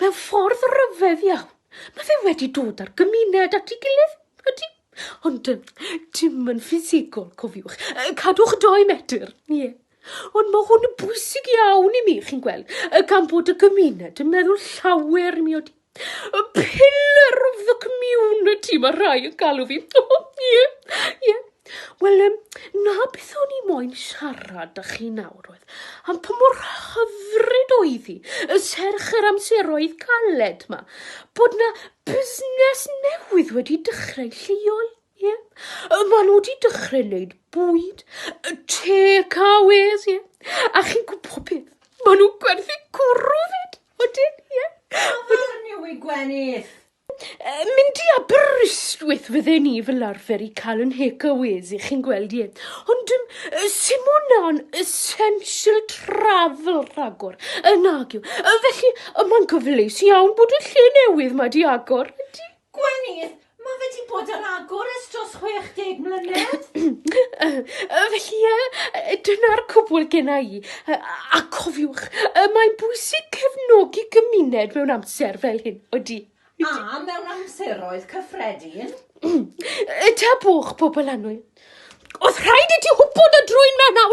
Mewn ffordd ryfedd iawn, mae fe wedi dod â'r gymuned at ei gilydd, ydy. Ond dim yn ffisegol, cofiwch. Cadwch dou metr, ie. Ond mae hwn yn bwysig iawn i mi, chi'n gweld, gan bod y gymuned yn meddwl llawer i mi, ydy. Y pillar of the community, mae rhai yn galw fi. Ie, ie. Wel yym, 'na beth o'n i moyn siarad â chi nawr oedd am pa mor hyfryd oedd hi, y serch yr amseroedd caled 'ma, bod 'na busnes newydd wedi dechrau lleol, ie. Yy ma' nhw 'di dechrau neud bwyd, yy takeaways, ie, a chi'n gwbo beth, ma' nhw'n gwerthu cwrw 'fyd, odyn, ie. Afarn yw 'i gwenith. Yy, mynd i Aberystwyth fydden i fel arfer i cael yn hec a wezi, chi'n gweld ie. Ond ym, yy, Simona'n essential travel rhagor, yy, nag yw. Yy, felly, yy, mae'n gyfleus iawn bod y lle newydd ma di agor, ydy? Gwenith, mae fe di bod ar agor ers dros 60 mlynedd. Yy, yy, felly, yy, yy, dyna'r cwbl genna i. Yy, a cofiwch, yy, mae'n bwysig cefnogi gymuned mewn amser fel hyn. Ydy. A mewn amseroedd cyffredin? Ytabwch, pobl annwyl. Oedd rhaid i ti wybod y drwyn 'ma nawr!